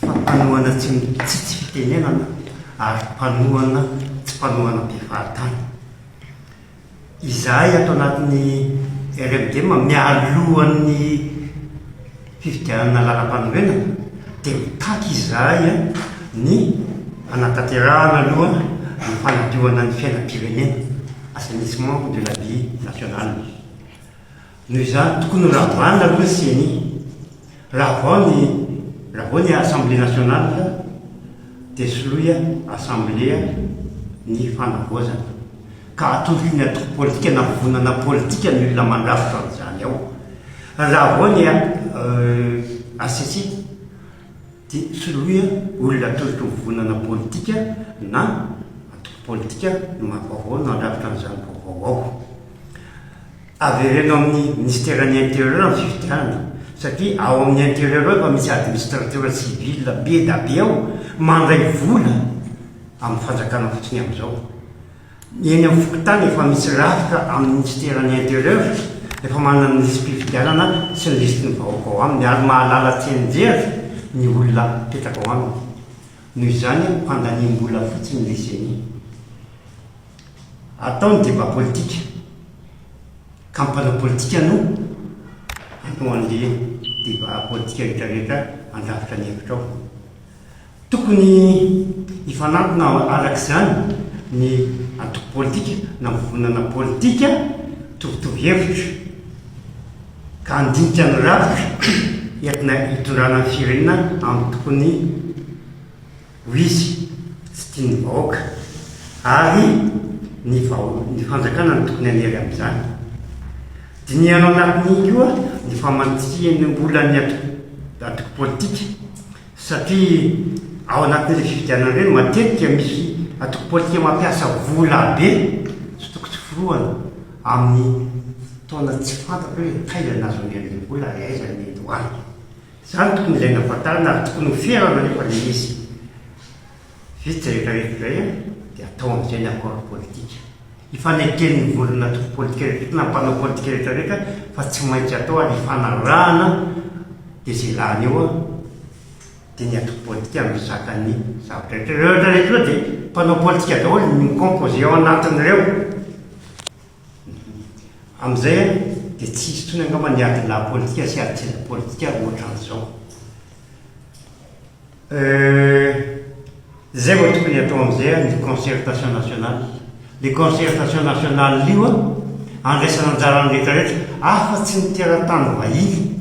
fa mpanohana tsy mitsitsy fitenenana ary mpanohana tsy mpanohana mpifahatany. Izahay ato anatin'ny RMDM mialohan'ny fifidianana lalam-panorenana dia mitaky izahay ny hanatanterahana aloha ny fanadiovana ny fiainam-pirenena, assainissement de la vie nationale. Noho izany, tokony ho ravanina aloha ny ceni. Raha vao ny raha vao ny Assemblée nationale dia soloy Assemblée ny fanavaozana ka atolotra ny antoko politika na vovonana politika ny olona mandrafitra an'izany ao. Raha vao ny HCC dia soloy olona atolotry ny vovonana politika na antoko politika vaovao no handrafitra an'izany vaovao ao. Avereno amin'ny Minisiteran'ny Intérieur ny fifidianana satria ao amin'ny Intérieur ao efa misy Administrateur civil be da be ao mandray vola amin'ny fanjakana fotsiny amin'izao. Eny amin'ny fokontany efa misy rafitra amin'ny Minisiteran'ny Intérieur efa manana ny lisi-pifidianana sy ny lisitin'ny vahoaka ao aminy ary mahalala tsianjery ny olona mipetraka ao aminy. Noho izany handaniam-bola fotsiny le ceni. Atao ny débat politika ka ny mpanao politika no hanao an'le débat politika rehetra rehetra handrafitra ny hevitra ao. Tokony hifanantona arak'izany ny antoko politika na mivonana politika mitovitovy hevitra ka handinika ny rafitra entina hitondrana ny firenena amin'ny tokony Hoy izy, Tsy tian'ny vahoaka. Ary ny vahoa, ny fanjakana no tokony hanery amin'izany. Dinihano anatin'iny koa ny famantsihan'olany antoko politika, satria ao anatin'ireny fifidianana ireny, matetika misy antoko politika mampiasa vola be, tsy toko tsy forohana, amin'ny fotoana tsy fantatra hoe taiza no nahazoany an'ilay vola ary aiza no nendovany. Izany tokony ilaina hafantarana ary tokony ho ferana anefa ilay izy. Vita izay rehetrarehetra izay an, dia atao amin'izay ny accord politique. Ifaneken'ny vondrona antoko politika rehetrarehetra na ny mpanao politika rehetrarehetra fa tsy maintsy atao ary ifanarahana dia izay lany eo an, dia ny antoko politika no mizaka ny zavatra rehetra. Ireo rehetrarehetra ireo dia mpanao politika daholo, mi-composer ao anatin'ireo. Amin'izay ary dia tsy hisy intsony angamba ny adilahy politika sy adijery politika ohatran'izao. Izay vao tokony hatao amin'izay ary ny concertation nationale. Ilay concertation nationale io andraisana anjara ny rehetrarehetra afa-tsy ny teratany vahiny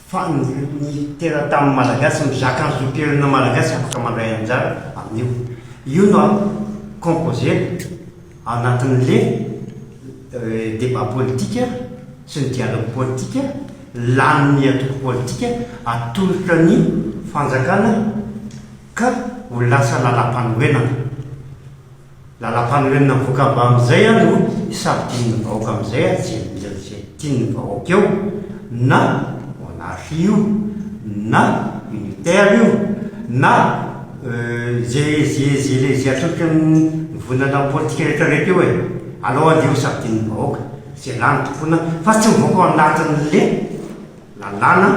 fa ny teratany malagasy mizaka ny zom-pirenena malagasy afaka mandray anjara amin'io. Io no composer-na. Anatin'le débat politika sy ny dialogue politika, lanin'ny antoko politika atolotra ny fanjakana ka ho lasa lalam-panorenana. Lalam-panorenana mivoaka avy amin'izay ary no hisafidian'ny vahoaka amin'izay ary tsy hiadiana amin'izay. tian'ny vahoaka eo na monarchie io na unitaire io na ze atolotry ny volana politika rehetra rehetra eo e! aleo aleo safidian'ny vahoaka ze lany tompona fa tsy mivoaka ao anatin'le lalàna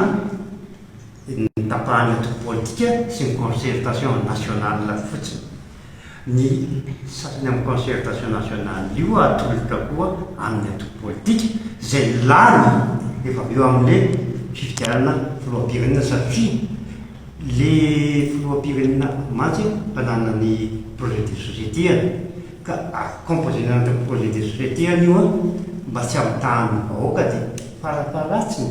ny tapahana tompom-politika sy ny concertation nationale fotsiny. Ny sasany amin'ny concertation nationale io atolotra koa amin'ny antoko politika izay lany rehefa avy eo amin'ilay fifidianana filoham-pirenena satria ilay filoham-pirenena mantsy mpanana ny projet de société-any ka composer-na an'ireo projet de société-any io mba tsy hampitahan'ny vahoaka dia fara-faharatsiny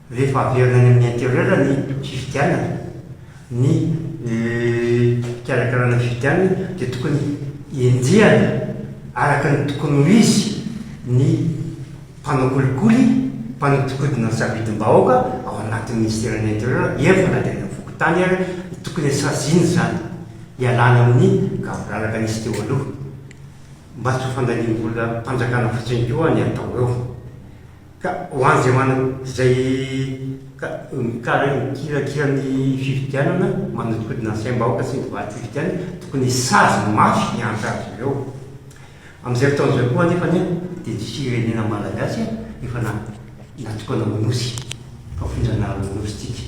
Rehefa averina any amin'ny interieur ny fifidianana, ny fikarakarana ny fifidianana dia tokony enjehana araka ny tokony ho izy ny mpanao kolikoly, mpanodikodina ny safidim-bahoaka ao anatin'ny ministeran'ny interieur, eny fa na dia any amin'ny fokontany ary no tokony saziana izany, hialana amin'ny gaboraraka nisy teo aloha, mba tsy ho fandaniam-bolam-panjakana fotsiny koa ny atao eo. Ka ho an'izay manana, izay ka, mikarak, mikirakira ny fifidianana, manodinkodina ny saim-bahoaka sy ny valififidianana, tokony hisazy mafy ny antra azy ireo. Amin'izay fotoana izay koa anefa anie dia ny firenena Malagasy efa na, natokana ho Nosy, fa fonjan'ala Nosy tsika.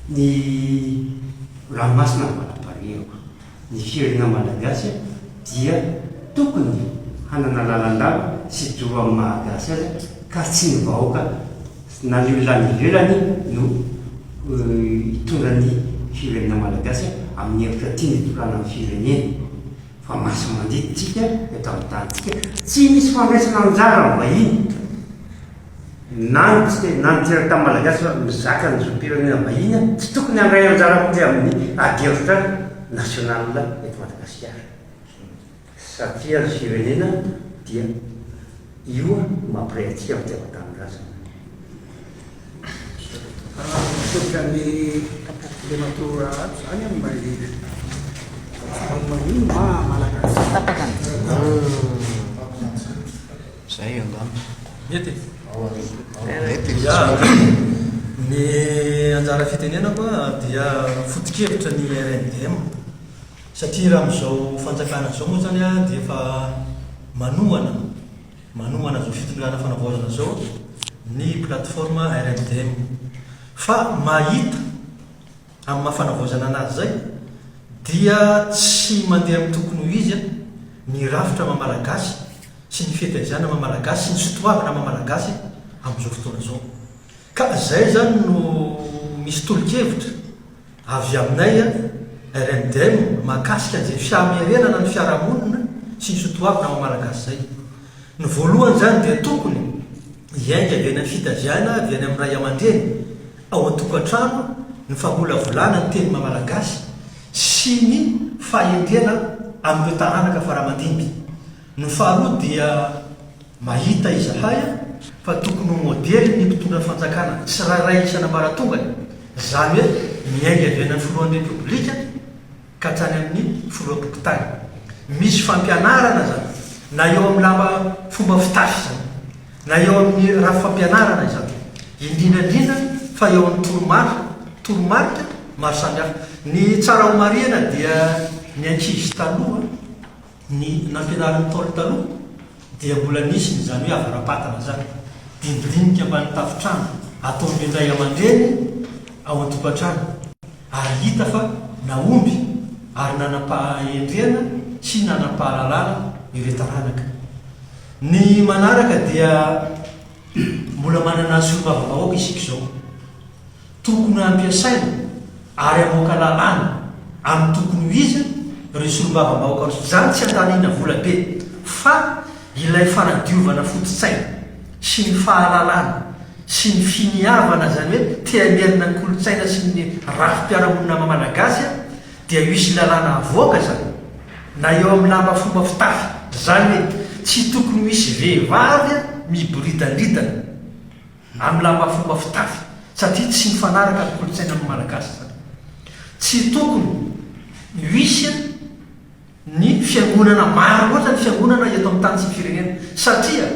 Ny ranomasina vao nampanehiko. Ny firenena Malagasy dia tokony hanana lalandava sy doro amin'ny maha-gasy azy ka tsy ny vahoaka na ny olona any ivelany no hitondra ny firenena Malagasy amin'ny hevitra tiany hitondrana ny firenena fa masi-mandidy tsika eto amin'ny tanintsika, tsy misy fandraisana anjara amin'ny vahiny. na ny tsy te na ny teratany malagasy fa mizaka ny zom-pirenena vahiny an, tsy tokony handray anjara mihitsy amin'ny adihevitra national eto Madagasikara satria ny firenena dia io mampiray antsika amin'ny fitiavan-tanindrazana. Misaotra an'i Andriamatoa Raharato izany amin'ny maha lehibe. Maninona maha malagasy? Zay angamba. Mety e! Mety e! Ya, ny anjara fitenenako dia foto-kevitra ny RMDM satria raha amin'izao fanjakana izao moa izany dia efa manohana, manohana izao fitondrana fanavaozana izao ny plateforme RMDM. Fa mahita. Amin'ny maha fanavaozana anazy izay dia tsy mandeha amin'ny tokony ho izy ny rafitra maha Malagasy sy ny fihetaizana maha Malagasy sy ny sotoavina maha Malagasy amin'izao fotoana izao. Ka izay izany no misy tolo-kevitra avy aminay RMDM mahakasika an'izay fihamerenana ny fiarahamonina sy ny sotoavina maha Malagasy izay. Ny voalohany izany dia tokony hiainga avy any amin'ny fitaviana avy any amin'ny ray aman-dreny ao an-tokantrano ny famolavolana ny teny mamalagasy sy ny fahendrena amin'ireo taranaka faramandimby. Ny faharoa dia mahita izahay fa tokony ho modely ny mpitondra fanjakana tsirairay isan'ambaratongany, izany hoe miainga avy any amin'ny filohan'ny Repoblika, ka hatrany amin'ny foloam-pokontany. Misy fampianarana izany, na eo amin'ny lamba fomba fitafy izany, na eo amin'ny rafi-pampianarana izany, indrindra indrindra fa eo amin'ny toromarika, toromarika maro samihafa. Ny tsara homarihina dia ny ankizy taloha, Ny nampirariny Ntaolo taloha dia mbola nisy ny izany hoe avara-patana izany, dinidinika ambany tafon-trano ataon'ny ray aman-dreny ao an-tokantrano ary hita fa nahomby ary nanam-pahendrena sy nanam-pahalalana ireo taranaka. Ny manaraka dia mbola manana solombavambahoaka isika izao. Tokony hampiasaina ary hamoaka lalàna amin'ny tokony ho izy ireo solombavambahoaka ireo. Izany tsy andanina vola be fa ilay fanadiovana foto-tsaina sy ny fahalalana sy ny finiavana izany hoe te-hamerina ny kolontsaina sy ny rafi-piarahamonina maha-malagasy dia hisy lalàna havoaka izany na eo amin'ny lamba fomba fitafy. Izany hoe tsy tokony ho hisy vehivavy miboridandridana Amin'ny lamba fomba fitafy satria tsy mifanaraka amin'ny kolontsainan'ny Malagasy izany. Tsy tokony ho hisy ny fiangonana maro loatra ny fiangonana eto amin'ny tany sy ny firenena satria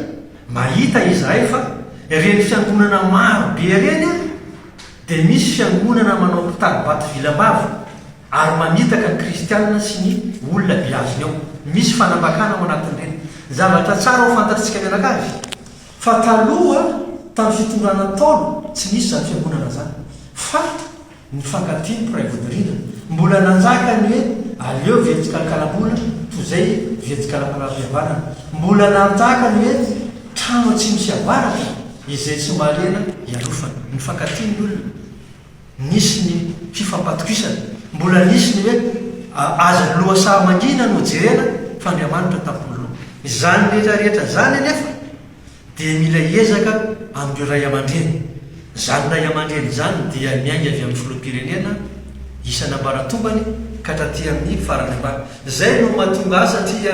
mahita izahay fa ireny fiangonana maro be ireny ary dia misy fiangonana manao mpitari-bato vilam-bava ary mamitaka ny kristianina sy ny olona beazony ao. Misy fanambakana ao anatin'ireny. Zavatra tsara ho fantatsika mianakavy. Fa taloha, tamin'ny fitondrana Ntaolo, tsy nisy izany fiangonana izany. Faly ny fankatia ny mpiray vodirindra. Mbola nanjaka ny hoe aleo very tsikalakalam-bola toy izay very tsikalapalam-pihavanana. Mbola nanjaka ny hoe trano atsimo sy avaratra izay tsy mahaleana hialofana. Nifankatia ny olona. Nisy ny fifampatokisana. Mbola nisy ny hoe aza lohasaha mangina no jerena fa Andriamanitra tampoloha. Izany rehetra rehetra izany anefa dia mila ezaka amin'ireo ray aman-dreny. Izany ray aman-dreny izany dia miainga avy amin'ny filoham-pirenena isan'ambaratombany ka hatraty amin'ny farany ambany. Izay no mahatonga ahy satria.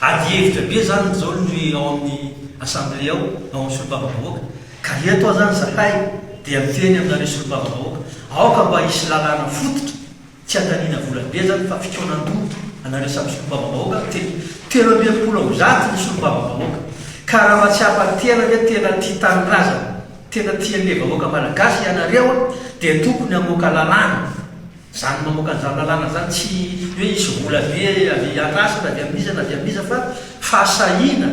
Ady hevitra be zany izao no ao amin'ny assemblée ao, ao amin'ny solombavambahoaka, ka eto aho zany zahay dia miteny aminareo solombavambahoaka, aoka mba hisy lalàna fototra, tsy handaniana vola be zany fa fikaonandoha anareo samy solombavambahoaka no teny, telo amby enimpolo amby zato ny solombavambahoaka, ka raha mahatsiapa tena hoe tena tia tanindrazana, tena tia an'le vahoaka malagasy ianareo dia tokony hamoaka lalàna. Zany mamoaka an'izany lalàna zany tsy hoe hisy vola be avy atrasy na avy amin'iza na avy amin'iza fa fahasahiana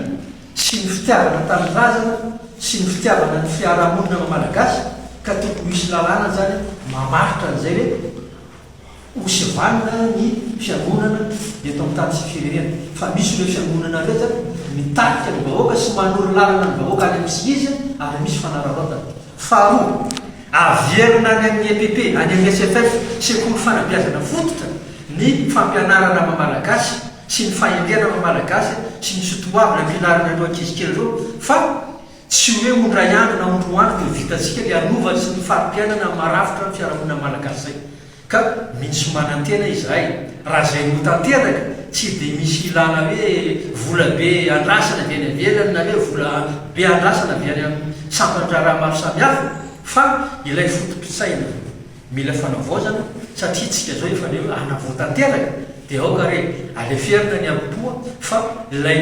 sy ny fitiavana ny tanindrazana sy ny fitiavana ny fiarahamonina maha malagasy ka tokony ho hisy lalàna zany mamaritra an'izay hoe ho sivanina ny fiangonana eto amin'ny tany sy ny firenena fa misy ireo fiangonana ireo zany mitarika ny vahoaka sy manoro lalana ny vahoaka any amin'ny tsy izy ary misy fanararaotana. Faharoa. Averina any amin'ny EPP, any amin'ny SFF, Sekoly Fanabeazana Fototra, ny fampianarana maha-malagasy sy ny fahendrena maha-malagasy sy ny soatoavina filaharana ireo ankizy kely ireo fa tsy hoe ho indray andro na ho indroa andro dia ho vitantsika ilay hanova sy ny fari-piainana marafitra ny fiarahamonina malagasy izay. Ka misy manantena izahay, raha izay no tanteraka, tsy dia misy hilàna hoe vola be andrasana avy any ivelany na hoe vola be andrasana avy any amin'ny sampan-draharaha maro samihafa, fa ilay foto-pitsaina mila fanavaozana, satria tsika izao efa leo hanavao tanteraka, dia aoka re aleferina ny arom-poa fa ilay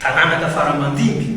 taranaka fara-mandimby.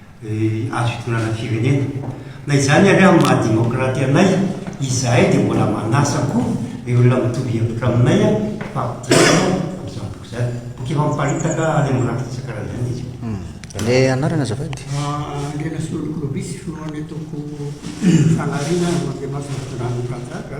azo itondrana firenena. Na izany ary amin'ny maha demokraty anay, izahay dia mbola manasa koa ny olona mitovy hevitra aminay fa hiaina amin'izany boky izany. Boky efa miparitaka any amin'ny rafitra isan-karazany izy io. Hmm. Ilay anarana azafady? Andriana Solonoko Lobisy, filohan'ny antoko Fanahy Riana, Andriamasina Fitondrana Mpanjaka.